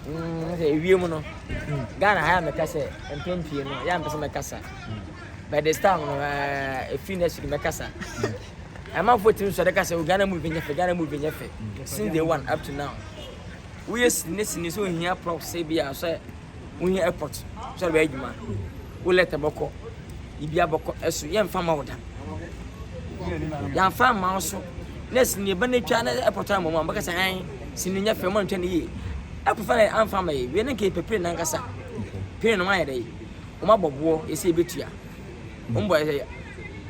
mm, sɛ ewie mu no ghana ha yɛ mɛka sɛ mpɛn pii no yɛ mpɛ sɛ mɛkasa by this time no ɛfiri next week mɛkasa ɛmanfoɔ tumi sɔre ka sɛ o ghana movie nyɛ fɛ ghana movie nyɛ fɛ since day one up to now woyɛ sini ne sini sɛ ohia prof sɛ bi a sɛ wohia airport sɛ ɔbɛyɛ adwuma wo lɛtɛ bɔkɔ Biribi abɔkɔ so, yɛmfa mma wo da. Yɛamfa amma wo so. Na sini ba no atwa na ɛpɔtɔ ama mu a, bɛka sɛ ɛn, sini nyɛ fɛ, moantwa no yie. Ɛkɔfa na amfa ama yɛ, wie no nka yɛpɛ pire no ankasa. Pire no moayɛ dɛ, wɔabɔ boɔ, ɛsɛ yɛbɛtua. Wɔn bɔ ɛsɛ,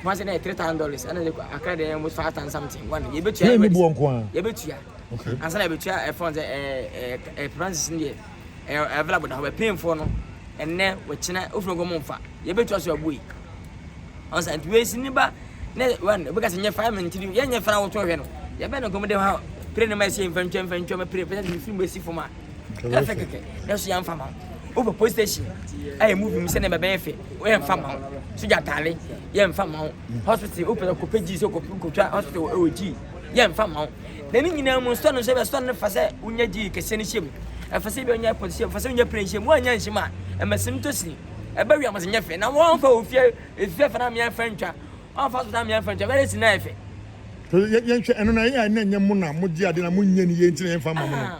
wɔn sɛ na yɛ three thousand dollars, ɛna de akra de ɛmu five thousand something, wɔn yɛbɛtua. Yɛbɛtua. Ansa na yɛbɛtua ɛfɔn sɛ ɛɛ ɛɛ ɛɛ francis no deɛ, Ɛyɛ available da hɔ bɛ pay foɔ no ɛnnɛ wɔkyena wofiri nkɔ mo nfa yɛ bɛ tua so abue ɔnsa nti wei si niba ne wan obi kasi nyɛ five minutes tiri yɛ nyɛ fana wɔtɔ hwɛ no yɛ bɛ ne nkɔm de ha pere ne ma ɛsi nfa ntwa nfa ntwa ma pere pere ne firi mu esi fam a ɛna fɛ kɛkɛ ne so yɛ nfa ma over post station ɛyɛ movie mu sɛ ne bɛ bɛyɛ fɛ yɛ nfa ma so gya taale yɛ nfa ma hospital wopɛ kɔ pɛ gyi so kɔ kɔ twa hospital ɛwɔ gyi yɛ nfa ma Na ne nyinaa mu, nsɔre nso bɛsɔre no fa sɛ wonya gyidi kɛseɛ no hyɛ mu. Ɛfa sɛ bɛnya ɛpɔ hyɛ mu, fa sɛ wonya pere nhyɛ mu. Woannya nhyɛ mu a, ɛma sini tɔ sini. Ɛba wiam sɛ nyɛ fɛ. Na wɔamfa wɔ fie efifɛ fa no amea mfa ntwa. Wɔamfa asɔfotɔ amea mfa ntwa. Bɛyɛ sini na ayɛ fɛ. Yɛnhwɛ ɛno no a, ɛyɛ a na ɛnyɛ mo na mogye ade na monyɛ no yie nti na yɛmfa mma mo no?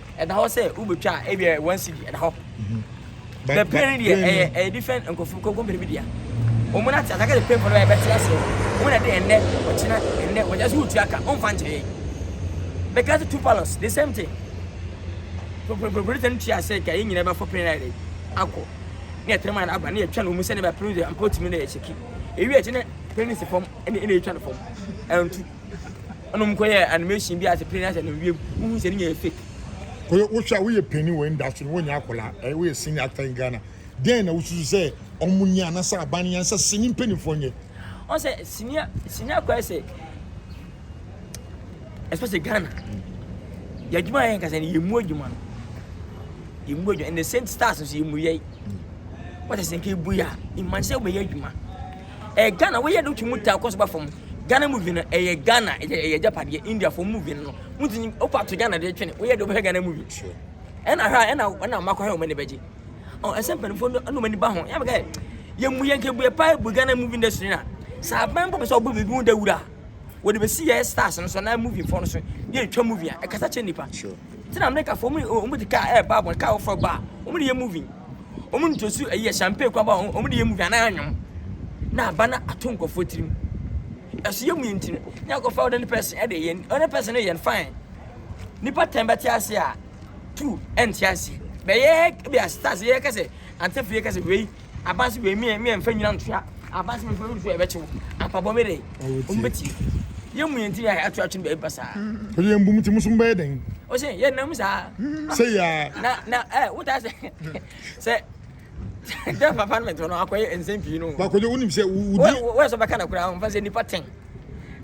ɛda hɔ sɛ wobɛtwa a ebia one cedi ɛda hɔ bɛ pay no deɛ ɛyɛ ɛyɛ different nkɔfo kɔmpani bi deɛ wɔn na te asaka de pay for no ɛbɛte aseɛ wɔn na de ɛnɛ ɔkyena ɛnɛ wɔn ɛsɛ wotua ka wɔn fa nkyɛn yɛ bɛka sɛ two palos the same thing pɔpɔpɔpɔ tɛn tua sɛ ka yɛ nyina bɛfɔ pay na yɛ akɔ ne ɛtɛn maa aba ne yɛtwa no mu sɛ ne bɛ pay no deɛ mpɔ tumi na yɛ kyeki ewi akyi ne pay no si fam ɛna ɛna yɛtwa no fam ɛntu. Ɛna ɔmo kɔ yɛ animation bi a sɛ plane ahyɛ no wiem wohu sɛ ne nyɛ yɛ fake. Kɔyɛ wohwɛ a woyɛ panin wɔ industry no wonyɛ akwadaa ɛɛ woyɛ senior actor in Ghana dɛn na wosusu sɛ ɔmo nyɛ anasɛ aban no yɛ ansɛ sini mpaninfoɔ nyɛ. Ɔn sɛ sini sini akwadaa sɛ especially Ghana yɛ adwuma yɛ nkasa no yɛ mu adwuma no yɛ mu adwuma and the same stars nso yɛ mu yɛ wɔte sɛ nka ebu yɛ a imagine sɛ wɔyɛ adwuma ɛyɛ ghana woyɛ de wotumi ta kɔ so ba fam ghana movie no ɛyɛ ghana ɛyɛ agyapadeɛ indiafoɔ movie no wontumi wofa to ghana de twene woyɛ de wobɛhwɛ ghana movie ɛna hwɛ a ɛna ɛna ɔma kɔhwɛ wɔn ani bɛgye ɔ ɛsɛ mpanimfoɔ no ɛna wɔn ani ba ho yɛn bɛka yɛn mu yɛn nkebue paa bu ghana movie industry na saa aban bɔ bɛ sɛ ɔbɔ biribi ho dawura wɔde bɛsi yɛ stars no so na movie foɔ no so yɛ etwa movie a ɛkasa kyɛ nipa. Sure. Ntsi na America fo wɔn wɔn de car ɛɛba abɔ car wɔfrɛ ɔba a wɔn de yɛ movie wɔn ntosu ɛyi yɛ champagne kura ba a wɔn de yɛ movie anaa anwom na aba na ato nkorɔfoɔ tirim ɛso yɛ mu yɛ nti no ne akɔfa ordinary person ɛde yɛ ordinary person no yɛ no fine nipa tɛn bɛte ase a two ɛnte aseɛ bɛyɛ bi a stars yɛ kɛsɛ antefo yɛ kɛsɛ wei abansi wei mi mi nfa nyina ntoa abansi wei nfa ntoa ɛbɛkyew apabɔ mi de wɔn bɛ tie yɛn mu yɛn ti yɛ ato atwene bɛɛbi basaa. o de yɛn bum ti musu bɛyɛ dɛn. o se yɛn nam saa. sɛ yaa. na na ɛ o ta sɛ sɛ dɛ papa no mɛ tɔn akɔyɛ nsɛm pii no. bakojo wonim sɛ wudi. wɔyɛ sɔ bɛka na kura nfa sɛ nipa tɛn.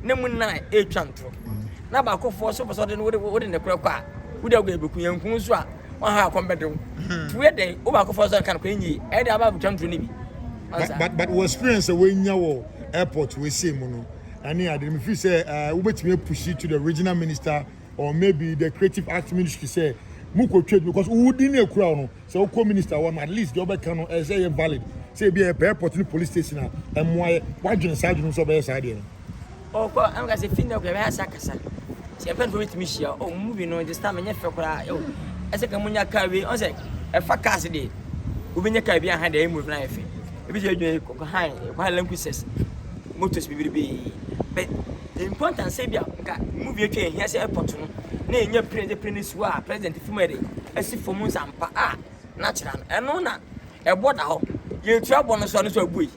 na mu nnan ɛretwa ntorɔ na baakofoɔ so pɛ sɛ ɔde no wode ne korɛ kɔ a wode agua bɛku yɛnku nso a waha akɔm bɛde wo hmm. nti woyɛ dɛn wo baakofoɔ so nka no kɔ ɛnyie ɛde aba abɛtwa ntorɔ no bi but but wo experience a woanya wɔ airport wɔasie mu no ɛne ade no mefiri sɛ eh, wobɛtumi apusi to the regional minister or maybe the creative arts ministry sɛ mokɔtwa bi because wodi ne akura wo no sɛ wokɔ minister hɔ no at least deɛ wobɛka no ɛsɛ yɛ valid sɛ ebi ɛyɛ pɛ airport ne police station a ɛmmoa yɛ wadwene saa adwene sɛ ɔbɛyɛ saa deɛ no ɔkɔ ɛno ka sɛ fi ndɛ kɔ ɛbɛyɛ asa kasa sɛ ɛfɛn fo bɛtumi hyia ɔ mu bi no this time ɛnyɛ fɛ koraa ɛwɔ ɛsɛ ka mu nya kaa wei ɔn sɛ ɛfa cars deɛ wobɛnya kaa bi aha deɛ ɛmu bi no ayɛ fɛ ebi sɛ adwuma kɔ han kɔ han lankusɛs motos bibiribee bɛ Important sɛ ebia nka movie atwa ehia sɛ airport no na enya plane de plane si hɔ a president fi mu ɛde asi fam nsampa a na kyerɛ no ɛno na ɛbɔ da hɔ yɛtua bɔ no so no so abu yi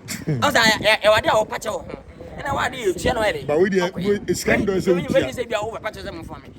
ɔsa ɛwɔ ade a wɔpa kyɛ wɔ ho ɛna wɔ ade yɛtua no ɛde ba wo deɛ sika ndɔ sɛ wotua sɛ bia wɔ pa kyɛ sɛ mfa me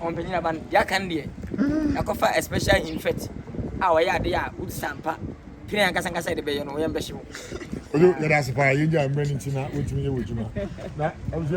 Ɔmpanyin aba no, deɛ aka no deɛ, yɛakɔfa a special infect a ɔyɛ adeɛ a wodi sɛ ampa pire ankasa ankasa yɛde bɛyɛ no, yɛmbɛhye wo. Oyo, yɛda ase paa, yɛn gyaa mmerɛ no nti na wontumi nyɛ w'adwuma. Na abusua.